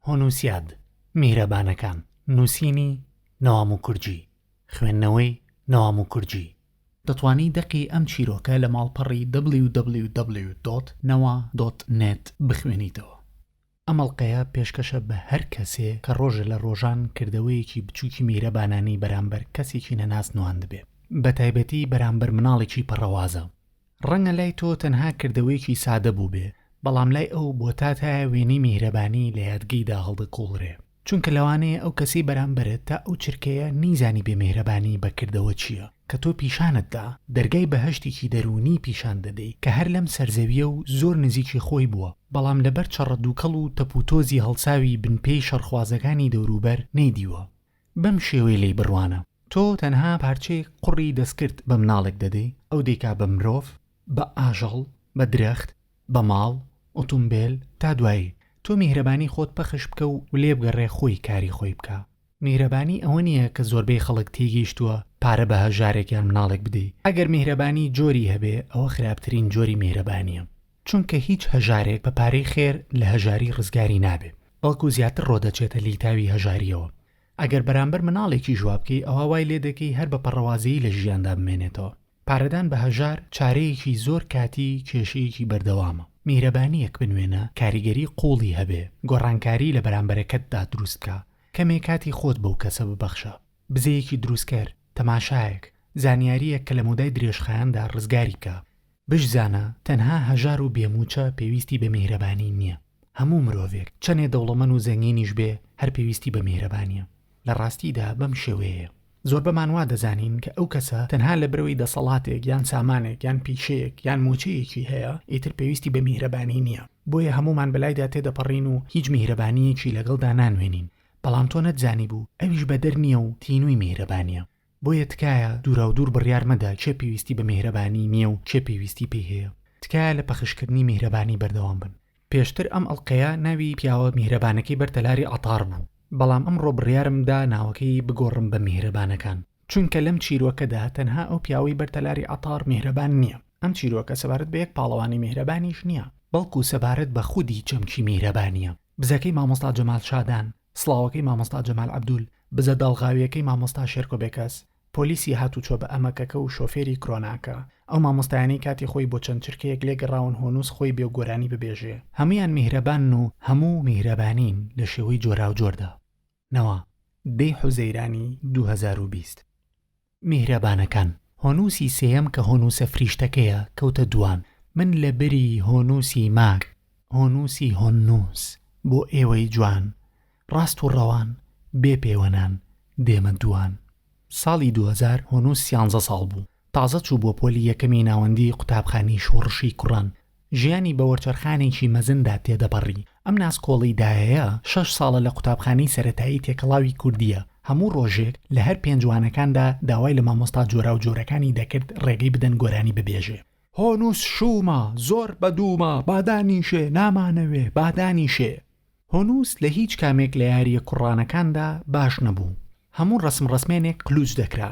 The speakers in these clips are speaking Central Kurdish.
هونوسیاد میهرەبانەکان نوسینی نوامو کورجی خوێندنەوەی نوامو کورجی دەتوانی دەقی ئەم چیرۆکە لە ماڵپەڕی www دۆت نەوا دۆت نێت بخوێنیتەوە ئەمەڵقەیە پێشکەشە بە هەر کەسێ کە ڕۆژێ لە ڕۆژان کردەوەیەکی بچوکی میهرەبانانی بەرامبەر کەسێکی نەناس نواندبێ بەتایبەتی بەرامبەر مناڵێکی پەڕەوازە ڕەنگە لای تۆ تەنها کردەوەیەکی سادە بووبێ، بەڵام لای ئەو بۆ تا تایە وێنەی میهرەبانی لە یادگەیدا هەڵدەکوڵرێ. چونکە لەوانەیە ئەو کەسەی بەرامبەرت تا ئەو چرکەیە نەیزانیبێ میهرەبانی بە کردەوە چییە. کە تۆ پیشانت دا، دەرگای بەهەشتێکی دەروونی پیشان دەدەی کە هەر لەم سەرزەوییە و زۆر نزیکی خۆی بووە، بەڵام لەبەر چەڕەدووکەڵ و تەپوتۆزی هەڵساوی بنپێی شەڕخوازەکانی دەوروبەر نەیدیوە. بەم شێوەی لێی بڕوانە، تۆ تەنها پارچەیەک قوڕی دەستکرد بە مناڵێک دەدەی، ئەو دەیکا بە مرۆڤ، بە ئاژەڵ، بە درەخت، بە ماڵ، ئوتومبێل، تا دوایی. تۆ میهرەبانی خۆت پەخش بکە و لێبگەڕێ خۆی کاری خۆی بکا. میهرەبانی ئەوە نییە کە زۆربەی خەڵک تێیگەیشتووە پارە بە هەژارێک یان مناڵێک بدەی. ئەگەر میهرەبانی جۆری هەبێ، ئەوە خراپترین جۆری میهرەبانییە. چونکە هیچ هەژارێک بە پارەی خێر لە هەژاری ڕزگاری نابێ بەڵکو زیاتر ڕۆدەچێتە لیتاوی هەژاریەوە ئەگەر بەرامبەر مناڵێکیش وابکەی ئەوا وای لێدەکەی هەر بە پەڕەوازەیی لە ژیاندا بمێنێتەوە پارەدان بە هەژار چارەیەکی زۆر کاتی کێشەیەکی بەردەوامە میهرەبانیەک بنوێنە کاریگەری قوڵی هەبێ گۆڕانکاری لە بەرامبەرەکەتدا دروست بکە کەمێ کاتی خۆت بەو کەسە ببەخشە بزەیەکی دروستکەر تەماشایەک زانیاریەک کە لە مەودای درێژخایەندا ڕزگاری بکا بشزانە تەنها هەژار و بێ موچە پێویستی بە میهرەبانی نیە هەموو مرۆڤێک چەنێ دەوڵەمەن و زەنگینیش بێ هەر پێویستی بە میهرەبانیە لە ڕاستیدا بەم شێوەیەیە زۆربەمان وا دەزانین کە ئەو کەسە تەنها لەبرەوەی دەسەڵاتێک یان سامانێک یان پیشەیەک یان موچەیەکی هەیە ئیتر پێویستی بە میهرەبانی نیە بۆیە هەموومان بەلایدا تێدەپەڕین و هیچ میهرەبانیەکی لەگەڵدا نانوێنین بەڵام تۆ نەتزانیبوو ئەویش بەدەر نیە و تینوی میهرەبانیە بۆیە تکایە دوراودور بڕیار مەدە کێ پێویستی بە میهرەبانی نیە و کێ پێویستی پێی هەیە تکایە لە پەخشکردنی میهرەبانی بەردەوام بن پێشتر ئەم ئەڵقەیە ناوی پیاوە میهرەبانەکەی بەر تەلاری عەتار بوو بەڵام ئەمڕۆ بڕیارم دا ناوەکەی بگۆڕم بە میهرەبانەکان چونکە لەم چیرۆکەدا تەنها ئەو پیاوەی بەر تەلاری عەتار میهرەبان نیە ئەم چیرۆکە سەبارەت بە یەک پاڵەوانی میهرەبانیش نیە بەڵکو سەبارەت بە خودی چەمکی میهرەبانیە بزەکەی مامۆستا جەمال شادان، سڵاوەکەی مامۆستا جەمال عەبدول، بزە داڵغاویەکەی مامۆستا شێرکۆ بێکەس، پۆلیسی هاتوچۆ بە ئەمەکەکە و شۆفێری کرۆناکە، ئەو مامۆستایانەی کاتی خۆی بۆ چەند چرکەیەک لێ گەڕاون هۆنووس خۆی بێ و گۆرانی ببێژێ، هەموویان میهرەبانن و هەموو میهرەبانین لە شێوەی جۆراوجۆردا. نەوە دەی حوزەیرانی دوو هەزار و بیست. میهرەبانەکان هۆنووسی سێیەم کە هۆنووسە فریشتەکەیە کەوتە دووان من لە بری هۆنووسی ماک هۆنووسی هۆننووس بۆ ئێوەی جوان ڕاست و ڕەوان بێ پێوەنان دێمە دووان ساڵی دوو هەزار هۆنووس سیانزە ساڵ بوو تازە چوو بۆ پۆلی یەکەمی ناوەندی قوتابخانی شۆڕشی کوڕان ژیانی بە وەرچەرخانێکی مەزندا تێدەپەڕی، ئەم ناسکۆڵی دایەیە شەش ساڵە لە قوتابخانەی سەرەتایی تێکەڵاوی کوردییە، هەموو ڕۆژێک لە هەر پێنج وانەکاندا داوای لە مامۆستا جۆراوجۆرەکانی دەکرد ڕێگەی بدەن گۆرانی ببێژێ، هۆنووس شوومە، زۆر بەدوومە، با دانیشێ، نامانەوێ، با دانیشێ. هۆنووس لە هیچ کامێک لە یارییە کوڕانەکاندا باش نەبوو، هەموو ڕەسمڕەسمێنێک قلووچ دەکرا،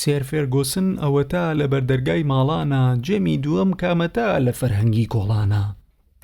سێر فێرگۆسن ئەوەتا لە بەردەرگای ماڵانە، جێمی دووەم کامەتا لە فەرهەنگی کۆڵانە.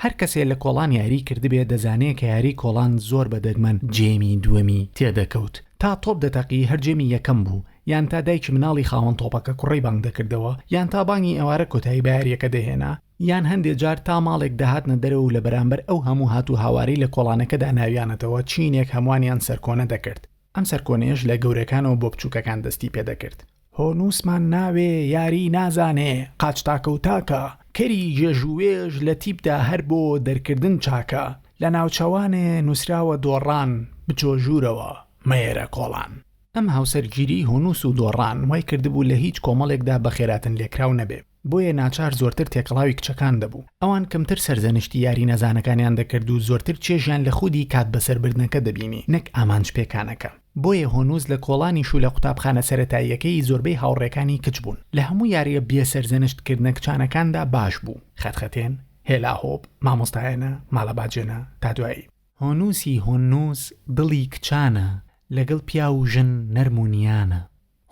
هەر کەسێ لە کۆڵان یاریی کردبێ دەزانێ کە یاریی کۆڵان زۆر بە دەگمەن جێمی دووەمی تێ دەکەوت. تا تۆپ دەتەقی هەر جێمی یەکەم بوو، یان تا دایکی مناڵی خاوەن تۆپەکە کوڕەی بانگ دەکردەوە، یان تا بانگی ئێوارە کۆتایی بە یارییەکە دەهێنا، یان هەندێ جار تا ماڵێک دەهاتنە دەرەوە و لە بەرانبەر ئەو هەموو هات و هاوارەی لە کۆڵانەکەدا ناویانەتەوە چینێک هەموانیان سەرکۆنە دەکرد. ئەم سەرکۆنەیەش لە گەورەکانەوە بۆ بچووکەکان دەستی پێ دەکرد، هۆ نووسمان ناوێ، یاری نازانێ، قاچ تاکە و تاکە، کەری ژێژ و وێژ لە تیپدا هەر بۆ دەرکردن چاکە، لە ناوچەوانێ نووسراوە دۆڕان، بچۆ ژوورەوە مەیەرە کۆڵان. ئەم هاوسەرگیریی هۆنووس و دۆڕان وای کردبوو لە هیچ کۆمەڵێکدا بەخێراتنلێکراو نەبێ. بۆیە ناچار زۆرتر تێکەڵاوی کچەکان دەبوو، ئەوان کەمتر سەرزەنشتی یاری نەزانەکانیان دەکرد و زۆرتر چێژیان لە خودی کات بەسەربردنەکە دەبینی نەک ئامانج پێکانەکە. بۆیە هۆنووز لە کۆڵانیش و لە قوتابخانە سەرەتاییەکەی زۆربەی هاوڕێکانی کچ بوون، لە هەموو یارییە بێ سەرزەنشت کردنە کچانەکاندا باش بوو، خەتخەتێن، هێلا هۆپ، مامۆستایانە، ماڵە باجێنە. تا دوایی. هۆنووسی هۆنووز دڵی کچانە، لەگەڵ پیاو و ژن نەرم و نیانە.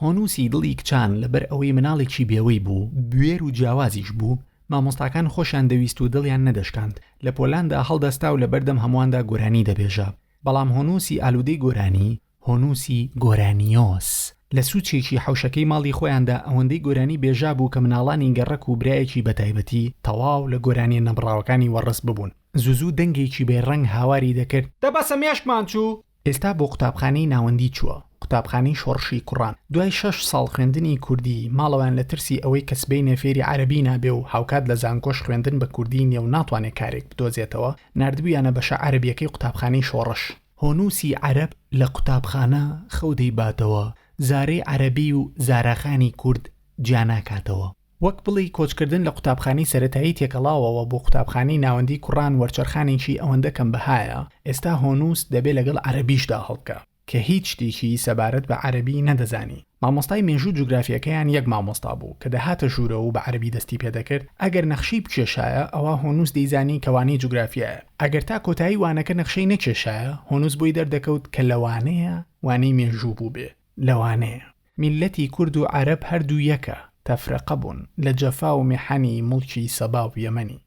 هۆنووسی دڵی کچان لەبەر ئەوەی مناڵێکی بێوەی بوو، بوێر و جیاوازیش بوو، مامۆستاکان خۆشیان دەویست و دڵیان نەدەشکاند، لە پۆلاندا هەڵدەستا و لەبەردەم هەموواندا گۆرانی دەبێژا. بەڵام هۆنووسی ئالوودەی گۆرانی، هۆنووسی گۆرانیۆس، لە سووچێکی حەوشەکەی ماڵی خۆیاندا ئەوەندەی گۆرانی بێژابوو کە مناڵانی گەڕەک و برایەکی بەتایبەتی تەواو لە گۆرانییە نەبڕاوەکانی وەڕس ببوون. زووزوو دەنگێکی بێ ڕەنگ هاواری دەکرد. دە بەسە مێشکمان چوو! ئێستا بۆ قوتابخانەی ناوەندی چووە، قوتابخانەی شۆڕشی کوڕان، دوای شەش ساڵ خوێندنی کوردی، ماڵەوەیان لە ترسی ئەوەی کە سبەینێ فێری عەرەبی نابێ و هاوکات لە زانکۆش خوێندن بە کوردی نیە و ناتوانێ کارێک بدۆزێتەوە، ناردبوویانە بەشە عەرەبیەکەی قوتابخانەی شۆڕش. هۆنووسی عەرەب لە قوتابخانە خەو دەیباتەوە، زارەی عەرەبی و زاراخانی کورد جیا ناکاتەوە. وەک بڵێی کۆچکردن لە قوتابخانەی سەرەتایی تێکەڵاوەوە بۆ قوتابخانەی ناوەندی کوڕان وەرچەرخانێکی ئەوەندە کەم بەهایە، ئێستا هۆنووس دەبێ لەگەڵ عەرەبیشدا هەڵبکە، کە هیچ شتێکی سەبارەت بە عەرەبی نەدەزانی، مامۆستای مێژوو جوگرافیەکەیان یەک مامۆستا بوو کە دەهاتە ژوورەوە و بە عەرەبی دەستی پێ دەکرد، ئەگەر نەخشەی بکێشایە ئەوا هۆنووس دەیزانی کە وانەی جوگرافیایە، ئەگەر تا کۆتایی وانەکە نەخشەی نەکێشایە هۆنووس بۆی دەردەکەوت کە لەوانەیە وانەی مێژوو بووبێ، لەوانەیە. میللەتی کورد و عەرەب هەردوو یەکە، تەفرەقە بوون لە جەفا و میحەنی موڵکی سەبا و یەمەنی.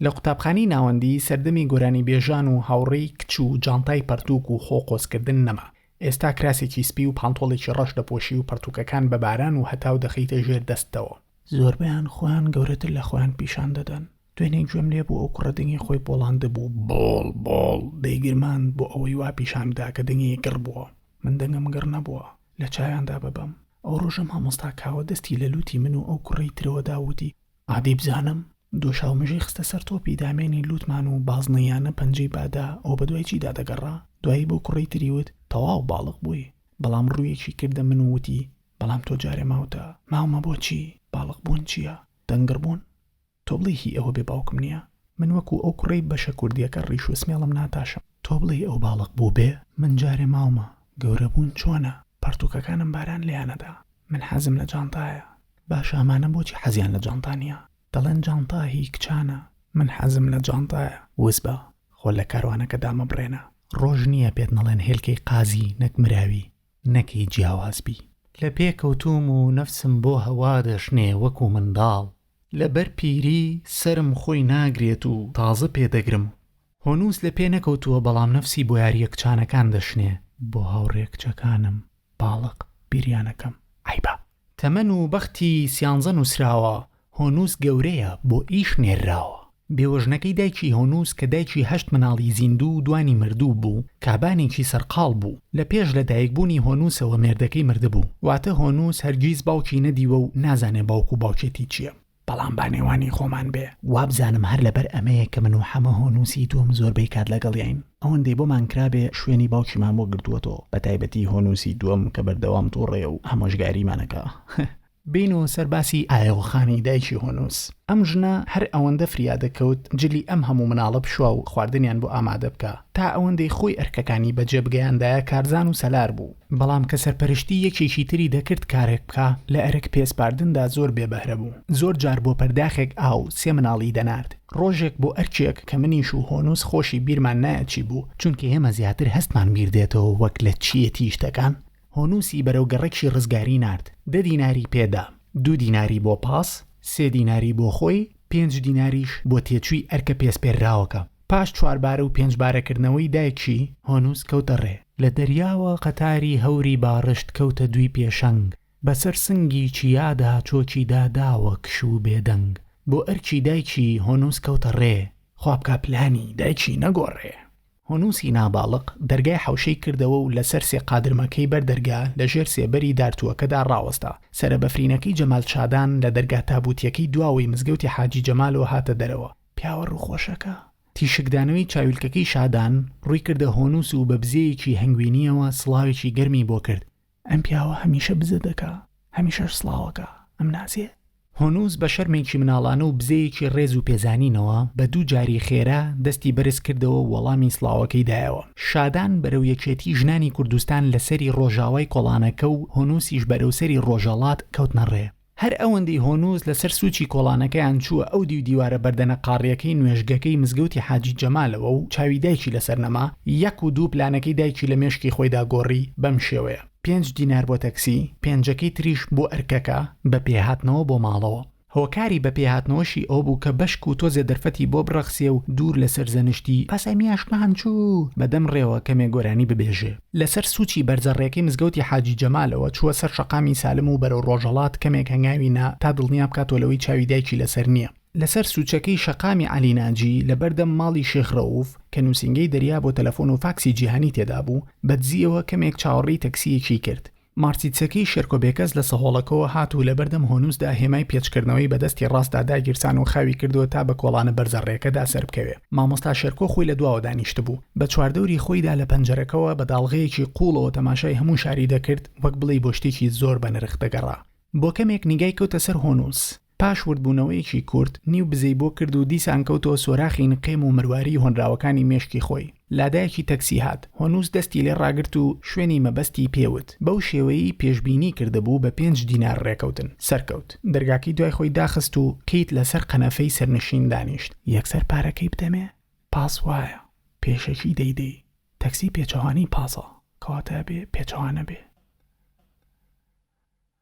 لە قوتابخانەی ناوەندی سەردەمی گۆرانیبێژان و هاوڕێی کچ و جانتای پەرتووک و خۆ قۆزکردن نەما. ئێستا کراسێکی سپی و پانتۆڵێکی ڕەش دەپۆشی و پەرتووکەکان بە باران و هەتاو دەخەیتە ژێر دەستتەوە. زۆربەیان خۆیان گەورەتر لە خۆیان پیشان دەدەن. دوێنێ گوێم لێ بوو ئەو کوڕە دەنگی خۆی بۆڵاندبوو، بۆڵ بۆڵ دەیگرماند بۆ ئەوەی وا پیشان بدا کە دەنگی گڕ بووە. من دەنگم گڕ نەبووە. لە چاویاندا ببەم. ئەو ڕۆژە مامۆستا کاوە دەستی لە لووتی من و ئەو کوڕەی ترەوە دا و وتی، عادی بزانم؟ دۆشاو مژەی خستە سەر تۆپی دامێنی لووتمان و بازنەییانە پەنجەی بادا، ئەو بە دوای چیدا دەگەڕا؟ دوایی بەو کوڕەی تری وت، تەواو باڵغ بووی. بەڵام ڕوویەکی کردە من و وتی، بەڵام تۆ جارێ ماوتە. ماومە بۆچی؟ باڵغبوون چییە؟ دەنگڕبوون؟ تۆ بڵێی هی ئەوە بێ باوکم نیە من وەکو ئەو کوڕەی بەشە کوردیەکە ڕیش و سمێڵم ناتاشم. تۆ بڵێی ئەو باڵق بوو بێ من جارێ ماومە گەورە بوون چۆنە پەڕتووکەکانم باران لێیان ئەدا من حەزم لە جانتایە باشە ئەمانە بۆچی حەزیان لە جانتا نیە دەڵێن جانتا هی کچانە من حەزم لە جانتایە وس بە خۆ لە کاروانەکە دامەبڕێنە ڕۆژ نیە پێت نەڵێن هێلکەی قازی نەک مراوی نەک هی جیاواز بی. لە پێ کەوتووم و نەفسم بۆ هەوا دەشنێ وەکو منداڵ لەبەر پیری سەرم خۆی ناگرێت و تازە پێ دەگرم. هۆنووس لە پێ نەکەوتووە بەڵام نەفسی بۆیارییە کچانەکان دەشنێ. بۆ هاوڕێ کچەکانم باڵق بیریانەکەم عەیبە. تەمەن و بەختی سیانزە نووسراوە. هۆنووس گەورەیە بۆ ئیش نێرراوە. بێوەژنەکەی دایکی هۆنووس کە دایکی هەشت مناڵی زیندوو و دوانی مردوو بوو، کابانێکی سەرقاڵ بوو. لە پێش لە دایکبوونی هۆنووسەوە مێردەکەی مردبوو. واتە هۆنووس هەرگیز باوکی نەدیوە و نازانێ باوک و باوکێتی چییە. بەڵام با نێوانی خۆمان بێ، وابزانم هەر لەبەر ئەمەیە کە من و حەمە هۆنووسی دووەم زۆربەی کات لەگەڵیین. ئەوەندەی بۆمان کرابێ شوێنی باوکیمان بۆ گرتووەتەوە، بەتایبەتی هۆنووسی دووەم کە بەردەوام تووڕەیە و ئامۆژگاریمان ئەکا. بێینە سەر باسی ئایەوەخانی دایکی هۆنووس. ئەم ژنە هەر ئەوەندە فریا دەکەوت جلی ئەم هەموو مناڵە بشوا و خواردنیان بۆ ئامادە بکا، تا ئەوەندەی خۆی ئەرکەکانی بەجێ بگەیاندایە کارزان و سەلار بوو، بەڵام کە سەرپەرشتی یەکێکی تری دەکرد کارێک بکا، لە ئەرک پێسپاردندا زۆر بێ بەهرە بوو، زۆر جار بۆ پەرداخێک ئاو سێ مناڵی دەنارد، ڕۆژێک بۆ ئەرکێک کە منیش و هۆنووس خۆشی بیرمان نایەت چی بوو، چونکە ئێمە زیاتر هەستمان بیر دێتەوە وەک لە چییەتی شتەکان، هۆنوسی بەرەو گەڕەکی ڕزگاری نارد، دە دیناری پێدا، دوو دیناری بۆ پاس، سێ دیناری بۆ خۆی، پێنج دیناریش بۆ تێچووی ئەرکە پێسپێرراوەکە. پاش چواربارە و پێنجبارەکردنەوەی دایکی، هۆنوس کەوتە ڕێ. لە دەریاوە قەتاری هەوری باڕشت کەوتە دووی پێشەنگ، بەسەر سنگی چیادا چۆکی دا داوە کش و بێدەنگ. بۆ ئەرکی دایکی، هۆنوس کەوتە ڕێ. خوابکا پلانی دایکی نەگۆڕێ. هونوسی ناباڵق دەرگای حەوشەی کردەوە و لەسەر سێ قادرمەکەی بەر دەرگا لە ژێر سێبەری دارتووەکەدا ڕاوەستا. سەرە بەفرینەکەی جەمال شادان لە دەرگا تابووتیەکەی دواوەی مزگەوتی حاجی جەمالەوە هاتە دەرەوە. پیاوە ڕووخۆشەکە. تیشکدانەوەی چاویلکەکەی شادان ڕووی کردە هۆنوس و بە بزەیەکی هەنگوینیەوە سڵاوێکی گەرمی بۆ کرد. ئەم پیاوە هەمیشە بزە دەکا هەمیشەش سڵاوەکا ئەم نازیە. هونوس بە شەرمێکی مناڵانە و بزەیەکی ڕێز و پێزانینەوە بە دوو جاری خێرا دەستی بەرز کردەوە و وەڵامی سڵاوەکەی دایەوە. شادان بەرەو یەکێتی ژنانی کوردستان لە سەری ڕۆژاوای کۆڵانەکە و هونوسیش بەرەو سەری ڕۆژەڵات کەوتنە ڕێ. هەر ئەوەندەی هۆنووس لەسەر سووچی کۆڵانەکەیان چووە ئەو دیو دیوارە بەردەنە قاڕییەکەی نوێژگەکەی مزگەوتی حاجی جەمالەوە و چاوی دایکی لەسەر نەما، یەک و دوو پلانەکەی دایکی لە مێشکی خۆیدا گۆڕی، بەم شێوەیە. پێنج دینار بۆ تەکسی، پێنجەکەی تریش بۆ ئەرکەکە، بە پێ هاتنەوە بۆ ماڵەوە. هۆکاری بە پێ هاتنەوەشی ئەوە بوو کە بەشک و تۆزێ دەرفەتی بۆ بڕەخسێ و دوور لە سەرزەنشتی، پاسای میاشکان چوو، بە دەم ڕێوە کەمێ گۆرانی ببێژێ. لەسەر سوچی بەرزە ڕێکەی مزگەوتی حاجی جەمالەوە چووە سەر شەقامی سالم و بەرەو ڕۆژهەڵات کەمێک هەنگاوی نا تا دڵنیا بکاتەوە لەوەی چاوی دایکی لەسەر نییە. لەسەر سوچەکەی شەقامی عەلی ناجی لەبەردەم ماڵی شێخ رەوف کە نوسینگەی دەریا بۆ تەلەفۆن و فاکسی جیهانی تێدابوو، بەدزییەوە کەمێک چاوەڕێی تەکسییەکی کرد، مارتیچەکی شێرکۆ بێکەس لە سەهۆڵەکەوە هات و لەبەردەم هۆنووسدا هێمای پێچکردنەوەی بە دەستی ڕاستدا داگیرسان و خاوی کردووە تا بە کۆڵانە بەرزە ڕێکەدا سەربکەوێ. مامۆستا شێرکۆ خۆی لە دواوە دانیشتبوو. بە چواردەوری خۆیدا لە پەنجەرەکەوە بە داڵغەیەکی قووڵەوە تەماشای هەموو شاری دەکرد، وەک بڵێی بۆ شتێکی زۆر بەنرخ دەگەڕا. بۆ کەمێک نیگای کەوتە سەر هۆنووس. پاش وردبوونەوەیەکی کورت، نیو بزەی بۆ کرد و دیسان کەوتەوە سۆراخی نقێم و مرواریی هۆنراوەکانی مێشکی خۆی. لادایەکی تەکسی هات. هۆنووس دەستی لێ ڕاگرت و شوێنی مەبەستی پێ وت. بەو شێوەیەی پێشبینی کردبوو بە پێنج دینار ڕێکەوتن، سەرکەوت. دەرگاکەی دوای خۆی داخست و قیت لەسەر قەنەفەی سەرنشین دانیشت. یەکسەر پارەکەی بدەمێ؟ پاس وایە. پێشەکی دەیدەی. تەکسی پێچەوانەی پاسە. کەواتە ئەبێ پێچەوانە بێ.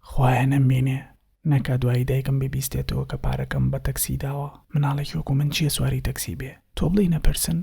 خوایە نەمبینێ نەکا دوایی دایکم ببیستێتەوە کە پارەکەم بە تەکسی داوە مناڵێکی وەکو من چیە سواری تەکسی بێ تۆ بڵێی نەپرسن؟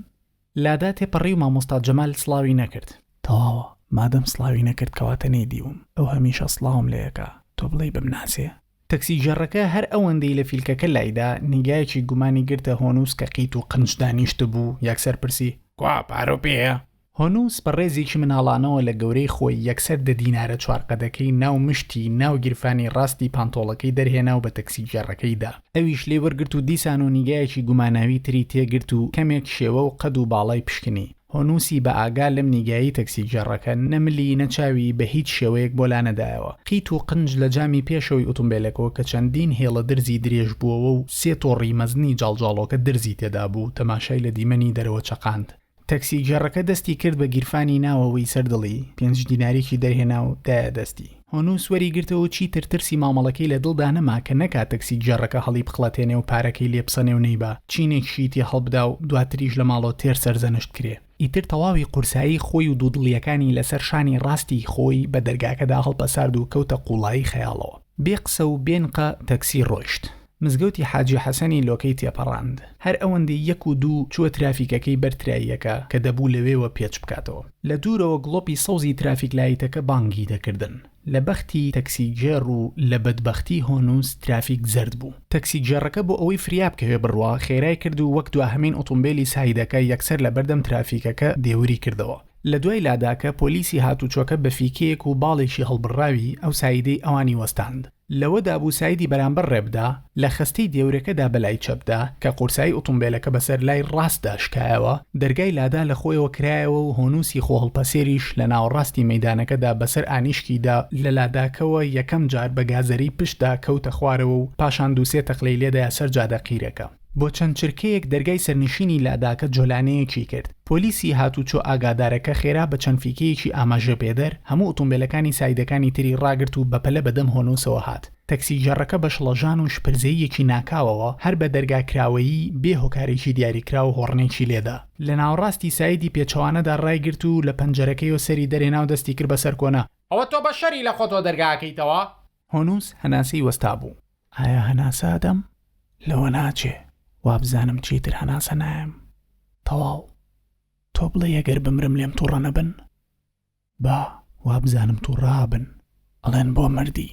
لادا تێپەڕی و مامۆستا جەمال سڵاوی نەکرد. تەواوە مادەم سڵاوی نەکرد کەواتە نەیدیوم ئەو هەمیشە سڵاوم لێ ئەکا تۆ بڵێی بمناسێ؟ تەکسیگێڕەکە هەر ئەوەندەی لە فیلکەکە لایدا نیگایەکی گومانی گرتە هۆنووس کە قیت و قنچ دانیشتبوو یەکسەر پرسی، کوا پارەو پێیە؟ هونووس بە ڕێزێکی مناڵانەوە لە گەورەی خۆی یەکسەر دە دینارە چوار قەدەکەی ناو مشتی ناو گیرفانی ڕاستی پانتۆڵەکەی دەرهێنا و بە تەکسیگێڕەکەی دا. ئەویش لێی وەرگرت و دیسان و نیگایەکی گوماناوی تری تێ گرت و کەمێک شێوە و قەد و باڵای پشکنی. هونووسی بە ئاگا لەم نیگایی تەکسیگێڕەکە نە ملی نە چاوی بە هیچ شێوەیەک بۆ لانەدایەوە. قیت و قنج لە جامی پێشەوەی ئوتومبێلەکەوە کە چەندین هێڵە درزی درێژ بووەوە و سێ تۆڕی مەزنی جاڵجاڵۆکە درزی تێدا بوو، تەماشای لە دیمەنی دەرەوە چەقاند. تەکسیگێڕەکە دەستی کرد بە گیرفانی ناوەوەی سەر دڵی، پێنج دیناریکی دەرهێنا و دایە دەستی. هۆنووس وەری گرتەوە و چیتر ترسی مامەڵەکەی لە دڵدا نەما کە نەکا تەکسیگێڕەکە هەڵیبخڵەتێنێ و پارەکەی لێ بسەنێ و نەیبا چینێکیشی تێ هەڵبدا و دواتریش لە ماڵۆتێر سەرزەنشت کرێ. ئیتر تەواوی قورسایی خۆی و دوودڵییەکانی لەسەر شانی ڕاستی خۆی بە دەرگاکەدا هەڵپەسارد و کەوتە قووڵایی خەیاڵەوە. بێ قسە و بێ نقە تەکسی ڕۆیشت. مزگەوتی حاجی حەسەنی لۆکەی تێپەڕاند. هەر ئەوەندەی یەک و دوو چووە ترافیکەکەی بەر تراییەکە کە دەبوو لەوێوە پێچ بکاتەوە. لە دوورەوە گڵۆپی سەوزی ترافیک لایتەکە بانگی دەکردن. لە بەختی تەکسیگێڕ و لە بەدبەختی هۆنووس ترافیک زەرد بوو. تەکسیگێڕەکە بۆ ئەوەی فریا بکەوێ بڕوا خێرای کرد و وەک دواهەمین ئۆتۆمبێلی سایدەکە یەکسەر لە بەردەم ترافیکەکە دێوری کردەوە. لە دوای لاداکە پۆلیسی هاتوچۆکە بە فیکەیەک و باڵێکی هەڵبڕراوی ئەو سایدەی ئەوانی وەستاند لەوەدا بوو سایدی بەرامبەر ڕێبدا، لە خەستەی دێورەکەدا بە لای چەپدا کە قورسایی ئوتومبێلەکە بەسەر لای ڕاستدا شکایەوە، دەرگای لادا لە خۆیەوە کرایەوە و هۆنوسی خۆهەڵپەسێریش لە ناوەڕاستی مەیدانەکەدا بەسەر ئانیشکیدا، لە لاداکەوە یەکەم جار بە گازەری پشتدا کەوتە خوارەوە و پاشان دوو سێ تەقلەی لێدایە سەر جادە قیرەکە. بۆ چەند چرکەیەک دەرگای سەرنشینی لاداکە جۆلانەیەکی کرد، پۆلیسی هاتووچۆ ئاگادارەکە خێرا بە چەند فیکەیەکی ئاماژەپێدەر هەموو ئوتومبێلەکانی سایدەکانی تری ڕاگرت و بەپەلە بەدەم هۆنووسەوە هات، تەکسیگێڕەکە بە شڵەژان و شپرزەییەکی ناکاوەوە هەر بە دەرگا کراوەیی بێ هۆکارێکی دیاریکراو هۆڕنێکی لێدا. لە ناوەڕاستی سایدی پێچەوانەدا ڕایگرت و لە پەنجەرەکەیەوە سەری دەرهێنا و دەستی کرد بەسەر کۆنا. ئەوە تۆ بەشەری لەخۆتەوە دەرگا ئەکەیتەوە؟ هۆنووس هەناسەی وەستابوو. ئایا هەناسە ئەدەم؟ لەوە ناچێ. وابزانم چیتر هەناسە نایەم. تەواو. تۆ بڵێی ئەگەر بمرم لێم توڕە نەبن؟ با، وابزانم توڕە ئەبن. ئەڵێن بۆ مردی.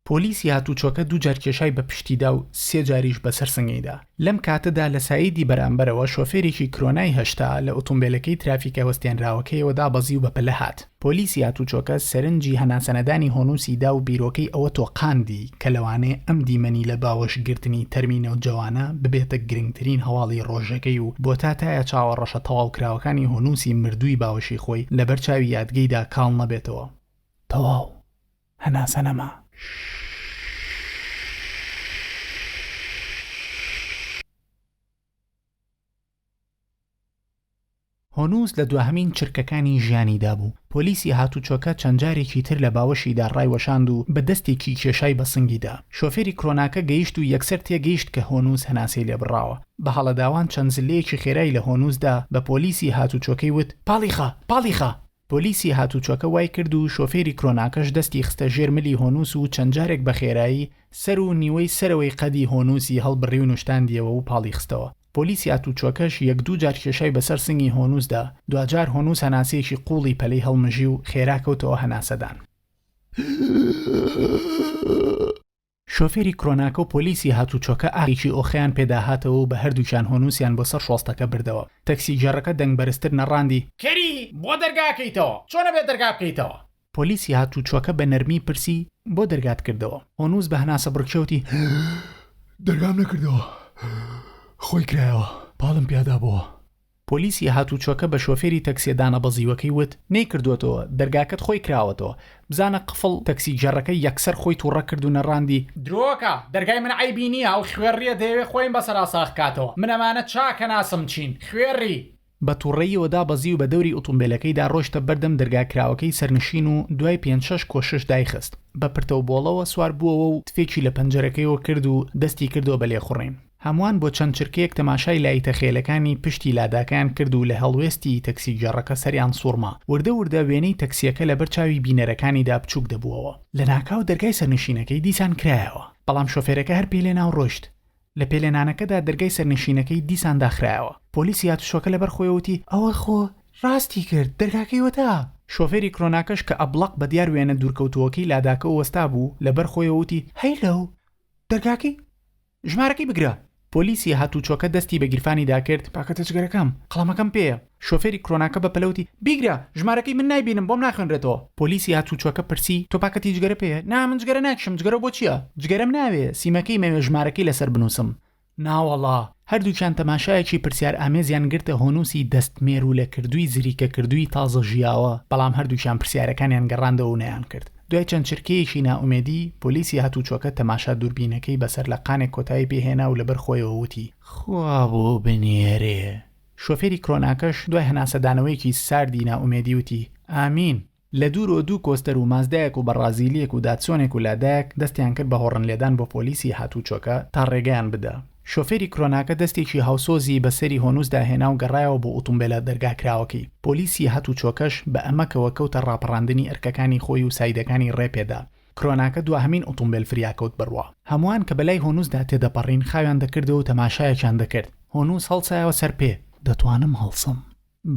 پۆلیسی هاتوچۆکە دوو جار کێشای بە پشتیدا و سێ جاریش بەسەر سنگیدا. لەم کاتەدا لە سایدی بەرامبەرەوە شۆفێرێکی کرۆنای هەشتا لە ئوتومبێلەکەی ترافیکە وەستێنراوەکەیەوە دابەزی و بە پلە هات. پۆلیسی هاتوچۆکە سەرنجی هەناسەنەدانی هۆنوسی دا و بیرۆکەی ئەوە تۆقاندی کە لەوانەیە ئەم دیمەنی لە باوەشگرتنی تەرمی نەوجەوانە ببێتە گرنگترین هەواڵی رۆژەکەی و بۆتاتایا چاوە رەشە تەواوکراوەکانی هۆنوسی مردووی باوەشی خۆی لەبەر چاوی یادگەیدا کاڵ نەبێتەوە. تەواو. هەناسە نەما. هۆنووس لە دواهەمین چرکەکانی ژیانیدا بوو. پۆلیسی هاتووچۆکە چەند جارێکی تر لە باوەشیدا ڕایوەشاند و بە دەستێکی کێشای بە سنگی دا. شۆفێری کرۆناکە گەیشت و یەکسەر تێگەیشت کە هۆنووس هەناسەی لێ بڕاوە. بە هەڵەداوان چەند زللەیەکی خێرای لە هۆنووس دا، بە پۆلیسی هاتووچۆکەی وت، پاڵی خە! پاڵی خە! پۆلیسی هاتووچۆکە وای کرد و شۆفێری کرۆناکەش دەستی خستە ژێر ملی هۆنووس و چەند جارێک بە خێرایی سەر و نیوەی سەرەوەی قەدی هۆنووسی هەڵبڕی و نوشتاندیەوە و پاڵی خستەوە. پۆلیسی هاتووچۆکەش یەک دوو جار کێشای بە سەر سنگی هۆنووس دا، دواجار هۆنووس هەناسەیەکی قووڵی پەلەی هەڵمژی و خێرا کەوتەوە هەناسەدان. شۆفێری کرۆناکە و پۆلیسی هاتووچۆکە ئاگێکی ئۆخەیان پێ داهاتەوە و بە هەردووکیان هۆنووسیان بۆ سەر شۆستەکە بردەوە. تەکسیگێڕەکە دەنگ بەرزتر نەڕاندی. کەری، بۆ دەرگا ئەکەیتەوە؟ چۆن ئەبێ دەرگا بکەیتەوە؟ پۆلیسی هاتووچۆکە بە نەرمی پرسی. بۆ دەرگات کردەوە؟ هۆنووس بە هەناسەبڕکێ وتی. دەرگام نەکردەوە. خۆی کرایەوە. پاڵم پیادابۆوە. پۆلیسی هاتووچۆکە بە شۆفێری تەکسیە دانەبەزیوەکەی وت، نەیکردووەتەوە، دەرگاکەت خۆی کراوەتەوە، بزانە قفڵ، تەکسیگێڕەکە یەکسەر خۆی توڕە کرد و نەڕاندی، درۆکە، دەرگای من عەیبی نییە، ئەو خوێڕییە دەیەوێت خۆیم بەسەرا ساغ کاتەوە، من ئەمانە چاکە ناسم چین، خوێڕی! بە توڕەییەوە دابەزی و بە دەوری ئوتومبێلەکەیدا ڕۆیشتە بەردەم دەرگا کراوەکەی سەرنشین و دوای پێنج شەش کۆشش دایخست، بە پرتەوبۆڵەوە سوار بووەوە و تفێکی لە پەنجەرەکەیەوە کرد و دەستی کردەوە بە لێخوڕین. هەمووان بۆ چەند چرکەیەک تەماشای لایتە خێلەکانی پشتی لاداکەیان کرد و لە هەڵوێستی تەکسیگێڕەکە سەریان سووڕما. وردە وردە وێنەی تەکسییەکە لەبەر چاوی بینەرەکانیدا بچووک دەبووەوە. لەناکاو دەرگای سەرنشینەکەی دیسان کرایەوە. بەڵام شۆفێرەکە هەر پێلێنا و ڕۆیشت. لە پێلێنانەکەدا دەرگای سەرنشینەکەی دیسان داخرایەوە. پۆلیسی هاتوچۆکە لەبەر خۆی وتی، ئەوە خۆ ڕاستی کرد، دەرگاکەی وەتا! شۆفێری کرۆناکەش کە ئەبڵەق بە دیار وێنە دوورکەوتووەکەی لاداکە و وەستابوو، لەبەر خۆیەوە وتی، هەی لەو! دەرگاکەی. ژمارەکەی بگرە. پۆلیسی هاتووچۆکە دەستی بە گیرفانی دا کرد، کاکە تەچگەرەکەم، قەڵەمەکەم پێیە. شۆفێری کرۆناکە بە پەلە وتی، بیگرە، ژمارەکەی من نایبینم، بۆم ناخوێنرێتەوە. پۆلیسی هاتووچۆکە پرسی، تۆ پاکەتی جگەرە پێیە؟ نا، من جگەرە ناکشم، جگەرە بۆ چییە؟ جگەرەم ناوێ، سیمەکەی مەوێ ژمارەکەی لەسەر بنووسم. ناوەڵا. هەردووکیان تەماشایەکی پرسیارئامێزیان گرتە هۆنووسی دەست مێروولەکردووی زریکەکردووی تازە ژیاوە، بەڵام هەردووکیان پرسیارەکانیان گەڕاندەوە و نەیانکرد. دوای چەند چرکەیەکی نائومێدی، پۆلیسی هاتووچۆکە تەماشا دووربینەکەی بە سەرلەقانێک کۆتایی پێ هێنا و لەبەر خۆیەوە وتی، خوا بۆ بنێرێ! شۆفێری کرۆناکەش دوای هەناسەدانەوەیەکی ساردی نائومێدی وتی، ئامین! لە دوورەوە دوو کۆستەر و مازدایەک و بەڕازیلییەک و داتسۆنێک و لادایەک دەستیان کرد بە هۆڕنلێدان بۆ پۆلیسی هاتووچۆکە تا ڕێگەیان بدا. شۆفێری کرۆناکە دەستێکی هاوسۆزی بە سەری هۆنووسدا هێنا و گەڕایەوە بۆ ئوتومبێلە دەرگاکراوەکەی. پۆلیسی هاتووچۆکەش بە ئەمەکەوە کەوتە ڕاپەڕاندنی ئەرکەکانی خۆی و سایدەکانی ڕێ پێدا. کرۆناکە دواهەمین ئوتومبێل فریاکەوت بڕوا. هەمووان کە بەلای هۆنووسدا تێدەپەڕین خاویان دەکردەوە و تەماشایەکیان دەکرد. هۆنووس هەڵسایەوە سەر پێ. دەتوانم هەڵسم.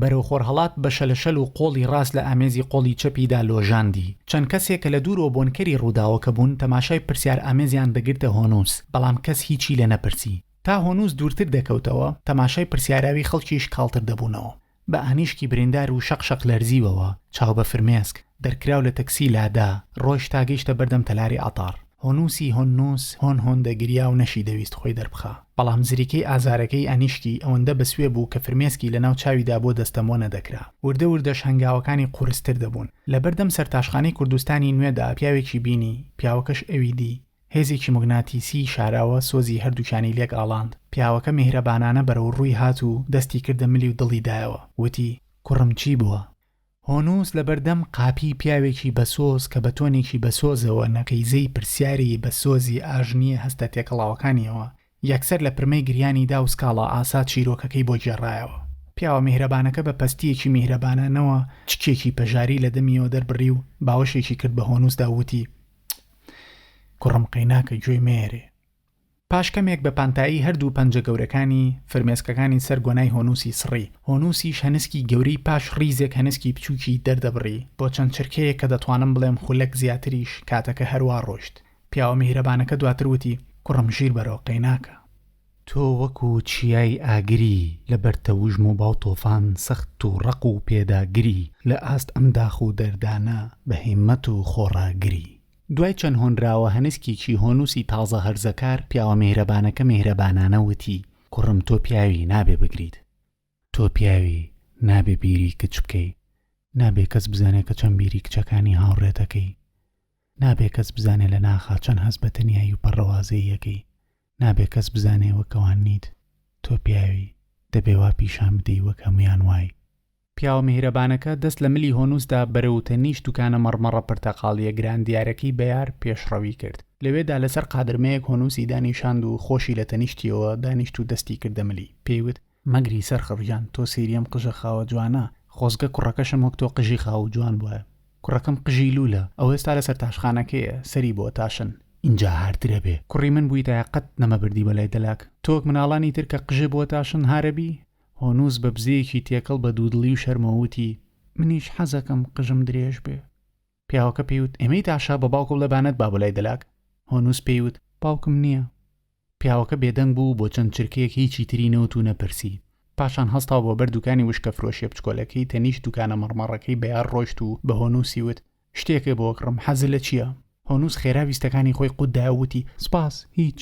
بەرەو خۆرهەڵات بە شەلەشەل و قۆڵی ڕاست لە ئامێزی قۆڵی چەپیدا لۆژاندی. چەند کەسێک کە لە دوورەوە بۆنکەری ڕووداوەکە بوون، تەماشای پرسیارئامێزیان دەگرتە هۆنووس، بەڵام کەس هیچی لێ نەپرسی. تا هۆنووس دوورتر دەکەوتەوە، تەماشای پرسیاراوی خەڵکیش کاڵتر دەبوونەوە. بە ئانیشکی بریندار و شەق شەق لەرزیوەوە، چاو بە فرمێسک، دەرکراو لە تەکسی لادا، ڕۆیشت تا گەیشتە بەردەم تەلاری عەتار. هۆنووسی هۆننووس هۆن هۆن دەگریا و نەشی دەویست خۆی دەربخا، بەڵام زریکەی ئازارەکەی ئەنیشکی ئەوەندە بەسوێ بوو کە فرمێسکی لەناو چاویدا بۆ دەستەمۆ نەدەکرا. وردە وردەش هەنگاوەکانی قورستر دەبوون. لەبەردەم سەرتاشخانەی کوردستانی نوێدا پیاوێکی بینی، پیاوەکەش ئەوی دی. هێزێکی موگناتیسیی شاراوە سۆزی هەردووکیانی لێک ئاڵاند. پیاوەکە میهرەبانانە بەرەوڕووی هات و دەستی کردە ملی و دڵی دایەوە. وتی، کوڕم چی بووە؟ هۆنووس لەبەردەم قاپیی پیاوێکی بەسۆز کە بە تۆنێکی بەسۆزەوە نەقیزەی پرسیاری بە سۆزی ئاژنییە هەستە تێکەڵاوەکانییەوە، یەکسەر لە پرمەی گریانی دا و سکاڵا ئاسا چیرۆکەکەی بۆ گێڕایەوە. پیاوە میهرەبانەکە بە پەستییەکی میهرەبانانەوە چکێکی پەژاری لە دەمییەوە دەربڕی و باوەشێکی کرد بە هۆنووسدا و وتی، کوڕم قەیناکە گوێی مەیەرێ. پاش کەمێک بە پانتایی هەردوو پەنجە گەورەکانی، فرمێسکەکانی سەر گۆنای هۆنووسی سڕی. هۆنووسیش هەنسکی گەورەی پاش ڕیزێک هەنسکی بچووکی دەردەبڕی، بۆ چەند چرکەیەک کە دەتوانم بڵێم خولەک زیاتریش، کاتەکە هەروا ڕۆیشت. پیاوە میهرەبانەکە دواتر وتی، کوڕم ژیر بەرەو قەیناکە. تۆ وەکو چیای ئاگری لە بەر تەوژم و با و تۆفان سەخت و ڕەق و پێداگری، لە ئاست ئەم داخ و دەردانە بە هیممەت و خۆڕاگری. دوای چەند هۆنراوە هەنسکێکی هۆنووسی تازە هەرزەکار، پیاوە میهرەبانەکە میهرەبانانە وتی، کوڕم تۆ پیاوی، نابێ بگریت. تۆ پیاوی، نابێ بیری کچ بکەی. نابێ کەس بزانێ کە چەند بیری کچەکانی هاوڕێت ئەکەی. نابێ کەس بزانێ لە ناخا چەند هەست بە تەنیایی و پەڕەوازەیی ئەکەی. نابێ کەس بزانێ وەک ئەوان نیت. تۆ پیاوی، دەبێ وا پیشان بدەی وەک هەموویان وای. پیاوە میهرەبانەکە دەست لە ملی هۆنوسدا بەرەو تەنیشت دوکانە مەڕمەڕە پرتەقاڵییە گران دیارەکەی بەیار پێشڕەوی کرد. لەوێدا لەسەر قادرمەیەک هۆنوسی دانیشاند و خۆشی لە تەنیشتییەوە دانیشت و دەستی کردە ملی. پێی وت. مەگری سەرخڕ گیان، تۆ سەیری ئەم قژە خاوە جوانە، خۆزگە کوڕەکەشم وەک تۆ قژی خاو و جوان بوایە. کوڕەکەم قژی لوولە، ئەو ئێستا لە سەرتاشخانەکەیە، سەری بۆ تاشن. ئینجا هارتر ئەبێ. کوڕی من بوویتایە قەت نەمەبردی بە لای دەلاک. تۆ وەک مناڵانی تر کە قژێ بۆ تاشن هار ئەبی؟ هۆنووس بە بزەیەکی تێکەڵ بە دوودڵی و شەرمەوە وتی. منیش حەزەکەم قژم درێژ بێ. پیاوەکە پێی وت، ئێمەی تاشە بە باوکە بڵێ با نەتبا بۆ لای دەلاک. هۆنووس پێی وت، باوکم نییە. پیاوەکە بێدەنگ بوو و بۆ چەند چرکەیەک هیچی تری نەوت و نەپرسی. پاشان هەستا و بۆ بەر دووکانی وشکەفرۆشییە بچکۆلەکەی تەنیشت دووکانە مەڕمەڕەکەی بەیار ڕۆیشت و بە هۆنووسی وت، شتێکێ بۆ کڕم حەزت لە چیە؟ هۆنووس خێرا ویستەکانی خۆی قوت دایەوە وتی، سپاس، هیچ.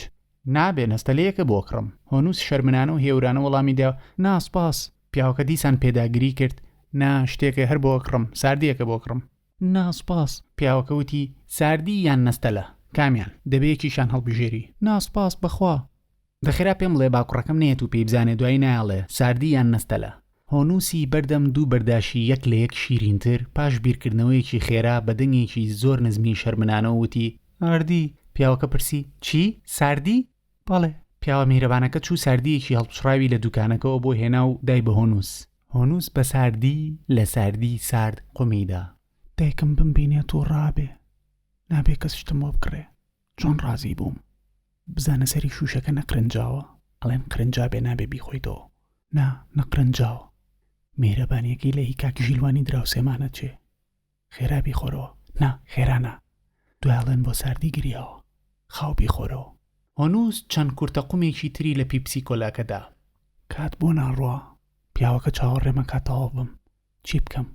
نابێ نەستەلێیەکە بۆ کڕم. هۆنووس شەرمنانە و هێورانە وەڵامی دا، نا، سپاس. پیاوەکە دیسان پێداگری کرد، نا، شتێکێ هەر بۆ کڕم، ساردییەکە بۆ کڕم. نا، سپاس. پیاوەکە وتی، ساردی یان نەستەلە؟ کامیان؟ دەبێ یەکێکیان هەڵبژێری. نا، سپاس، بەخوا. دەخرا پێم ڵێ با کوڕەکەم نێت و پێی بزانێ دوایی نایەڵێ ساردی یان نەستەلە. هۆنووسی بەردەم دوو بەرداشی یەک لە یەک شیرینتر، پاش بیرکردنەوەیەکی خێرا بە دەنگێکی زۆر نزمی شەرمنانەوە وتی، ئاردی! پیاوەکە پرسی، چی؟ ساردی؟ بەڵێ. پیاوە میهرەبانەکە چوو ساردییەکی هەڵپچڕاوی لە دووکانەکەوە بۆ هێنا و دای بە هۆنووس. هۆنووس بە ساردی لە ساردی سارد قومیدا. دایکم بمبینێت و ڕابێ، نابێ کەس شتم بۆ بکڕێ. چۆن ڕازی بووم بزانە سەری شوشەکە نەقرنجاوە ئەڵێن قرنجابێ نابێ بیخۆیتەوە نا نەقرنجاوە میهرەبانیەکەی لە هی کاک ژیلوانی دراوسێمانە چێ خێرا بیخۆرەوە نا خێرا نا دوای ئەڵێن بۆ ساردی گریاوە خاو بیخۆرەوە. هۆنووز چەند کورتەقومێکی تری لە پیپسی کۆلاکە دا. کات بۆ ناڕوا پیاوەکە چاوەڕێ مەکە تەواو بم چی بکەم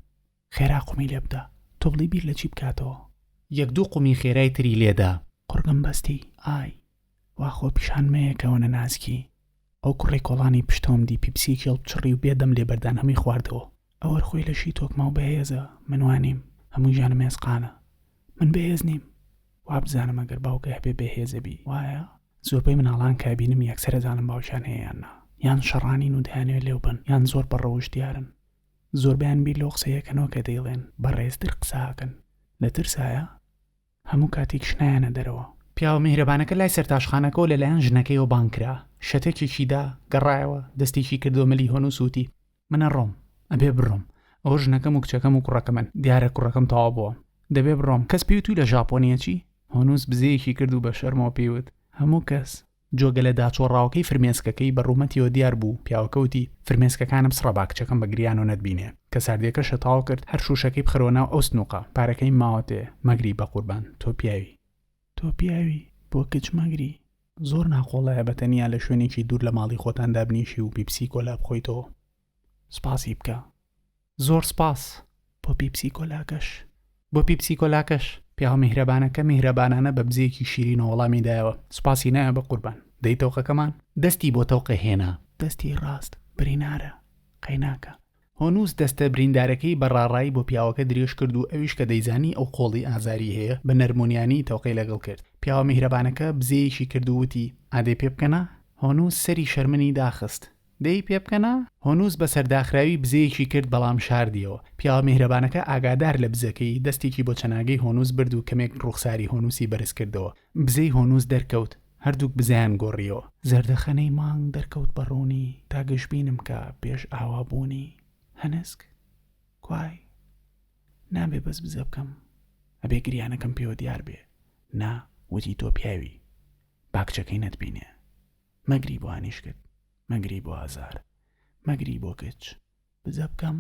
خێرا قومی لێ بدە. توبڵی بیر لە چی بکاتەوە؟ یەک دوو قومی خێرای تری لێ دا. قوڕگم بەستی، ئای. وا خۆپیشان مەیە کە ونە نازکی. ئەو کوڕەی کۆڵانی پشتەوەم دی پیپسییەکی هەڵبچڕی و بێ دەم لێ بەردان هەمووی خواردەوە. ئەوەر خۆی لەشی تۆکماو بەهێزە، من وا نیم. هەموو ژیانم ئێسقانە. من بەهێز نیم. وابزانم ئەگەر باوکێ هەبێ بەهێز ئەبی، وایە؟ زۆربەی مناڵان کە ئەبینم یەکسەر ئەزانم باوکیان هەیە یان نا. یان شەڕانین و دەیانەوێ لێو بەن یان زۆر بە ڕەوشت دیارن. زۆربەیان بیر لەو قسەیەکەنەوە کە دەیڵێن بەڕێزتر قساکەن لە ترسایە هەموو کاتیکش نایەنە دەرەوە. پیاوە میهرەبانەکە لای سەرتاشخانەکەوە لە لایەن ژنەکەیەوە بانگ کرا، شەتەکێکی دا، گەڕایەوە، دەستێکی کردووە ملی هۆنووس و وتی، من ئەڕۆم، ئەبێ بڕۆم، ئەوە ژنەکەم و کچەکەم و کوڕەکەمن، دیارە کوڕەکەم تەواو بووە، دەبێ بڕۆم، کەس پێی وتووی لە ژاپۆنییە چی؟ هۆنووس بزەیەکی کرد و بە شەرمەوە پێی وت، هەموو کەس. جۆگە لە داچۆڕاوەکەی فرمێسکەکەی بە ڕوومەتیەوە دیار بوو، پیاوەکە وتی، فرمێسکەکانم سڕە با کچەکەم بە گریانەوە نەتبینێ. کە ساردیەکە شەتاڵ کرد، هەر شووشەکەی بخەرەوە ناو ئەو سنووقە، پارەکەیم ماوەتێ، مەگری بە قوربان، تۆ پیاوی. تۆ پیاوی، بۆ کچ مەگری. زۆر ناقۆڵایە بە تەنیا لە شوێنێکی دوور لە ماڵی خۆتان دابنیشی و پیپسی کۆلا بخۆیتەوە. سپاسی بکە زۆر سپاس بۆ پیپسی کۆلاکەش. بۆ پیپسی کۆلاکەش پیاوە میهرەبانەکە میهرەبانانە بە بزێکی شیرینەوە وەڵامی دایەوە سپاسی نایە بە قوربان دەی تەوقەکەمان. دەستی بۆ تەوقە هێنا. دەستی ڕاست برینارە قەیناکە. هۆنووس دەستە بریندارەکەی بە ڕاڕایی بۆ پیاوەکە درێژ کرد و ئەویش کە دەیزانی ئەو قۆڵی ئازاری هەیە بە نەرمونیانی تەوقەی لەگەڵ کرد پیاوە میهرەبانەکە بزێیەکی کرد و وتی ئادەی پێ بکەنە؟ هۆنووس سەری شەرمنی داخست. دەی پێ بکەنە. هۆنووس بە سەرداخراوی بزەیەکی کرد بەڵام شاردیەوە. پیاوە میهرەبانەکە ئاگادار لە بزەکەی، دەستێکی بۆ چەناگەی هۆنووس برد و کەمێک ڕووخساری هۆنووسی بەرز کردەوە. بزەی هۆنووس دەرکەوت. هەردووک بزەیان گۆڕیەوە. زەردەخەنەی مانگ دەرکەوت بە ڕوونی تا گەشبینم کا پێش ئاوا بوونی. هەنسک، کوای. نابێ بەس بزە بکەم. ئەبێ گریانەکەم پێوە دیار بێ. نا، وتی تۆ پیاوی. با کچەکەی نەتبینێ. مەگری بۆ هەنیشکت مەگری بۆ ئازار مەگری بۆ کچ بزە بکەم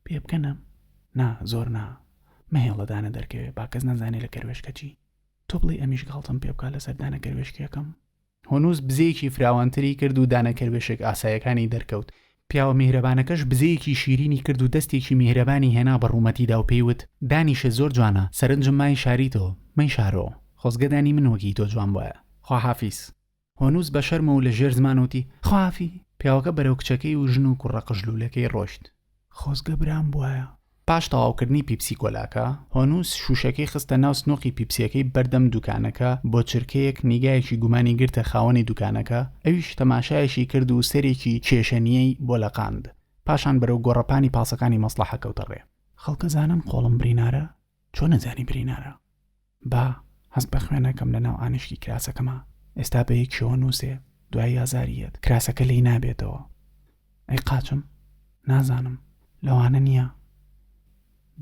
پێ بکەنە نا زۆر نا مەهێڵە دانە دەرکەوێ با کەس نەزانێ لە کەروێشکەچی تۆ بڵێ ئەمیش گاڵتەم پێ بکە لە سەردانە کەروێشکیەکەم هۆنووس بزەیەکی فراوانتری کرد و دانە کەروێشک ئاسایەکانی دەرکەوت پیاوە میهرەبانەکەش بزەیەکی شیرینی کرد و دەستێکی میهرەبانی هێنا بە ڕوومەتیدا و پێی وت دانیشە زۆر جوانە سەرنجم مای شاری تۆ مەی شارۆ خۆزگە دانی من وەکی تۆ جوان بایە خواحافیز هۆنووس بە شەرمە و لە ژێر زمان وتی، خوافی! پیاوەکە بەرەو کچەکەی و ژن و کوڕە قژلوولەکەی ڕۆیشت. خۆزگە برام بوایە. پاش تەواوکردنی پیپسی کۆلاکە، هۆنووس شووشەکەی خستە ناو سنووقی پیپسییەکەی بەردەم دووکانەکە، بۆ چرکەیەک نیگایەکی گومانی گرتە خاوەنی دووکانەکە، ئەویش تەماشایەکی کرد و سەرێکی کێشەنیی بۆ لەقاند، پاشان بەرەو گۆڕەپانی پاسەکانی مەسڵەحە کەوتە ڕێ. خەڵکەزانن قۆڵم برینارە؟ چۆن ئەزانی برینارە؟ با هەست بە خوێنەکەم لە ناو ئانیشکی کراسەکەما ئێستا بە یەک شەوە نووسێ دوای ئازاری یەت کراسەکە لی نابێتەوە ئەی قاچم نازانم لەوانە نییە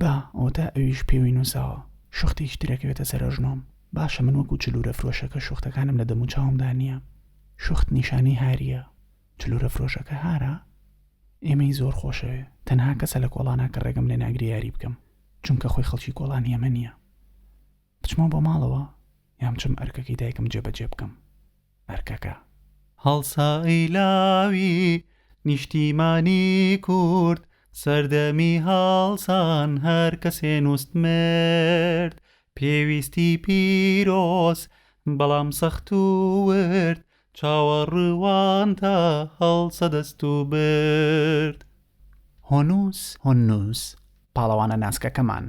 با ئەوتا ئەویش پێوی نووساوە شوختێکی ترەکەوێتە سەرۆژنۆم باشە من وەکو چلورە فرۆشەکە شوختەکانم لە دەمو چاومدا نییە شوخت نیشانی هاریە چلورە فرۆشەکە هارە ئێمەی زۆر خۆشەوێ تەنها کەسە لە کۆڵانا کە ڕێگەم لێ ناگریاری بکەم چونکە خۆی خەڵکی کۆڵانی ئەمە نییە بچمەوە بۆ ماڵەوە یان بچم ئەرکەکەی دایکم جێبەجێ بکەم ئەرکەکە. هەڵسایلاوی نیشتیمانی کورد سەردەمی هەڵسان هەر کەسێ نوست مرد پێویستی پیرۆز بەڵام سەخت و ورد چاوەڕوانتە هەڵسە دەست و برد. هۆنووس هۆنووس، پاڵەوانە ناسکەکەمان،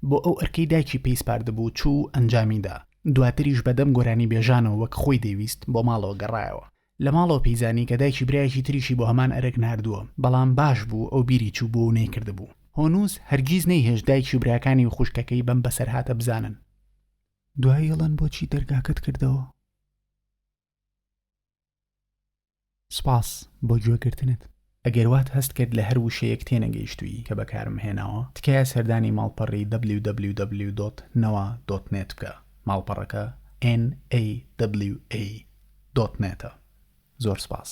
بۆ ئەو ئەرکەی دایکی پێی سپاردبوو چوو و ئەنجامی دا. دواتریش بە دەم گۆرانیبێژانەوە وەک خۆی دەیویست بۆ ماڵەوە گەڕایەوە. لە ماڵەوە پێی زانی کە دایکی برایەکی تریشی بۆ هەمان ئەرک ناردووە، بەڵام باش بوو ئەو بیری چوو بووە و نەیکردبوو. هۆنووس هەرگیز نەیهێشت دایکی و براکانی و خوشکەکەی بەم بەسەرهاتە بزانن. دوایی ئەڵێن بۆچی دەرگاکەت کردەوە؟ سپاس بۆ گوێ گرتنت. ئەگەر وات هەست کرد لە هەر وشەیەک تێنەگەیشتووی کە بەکارم هێناوە، تکایە سەردانی ماڵپەڕی www.nawa.net بکە، ماڵپەڕەکە NAWA دۆت نێت ە. زۆر سپاس.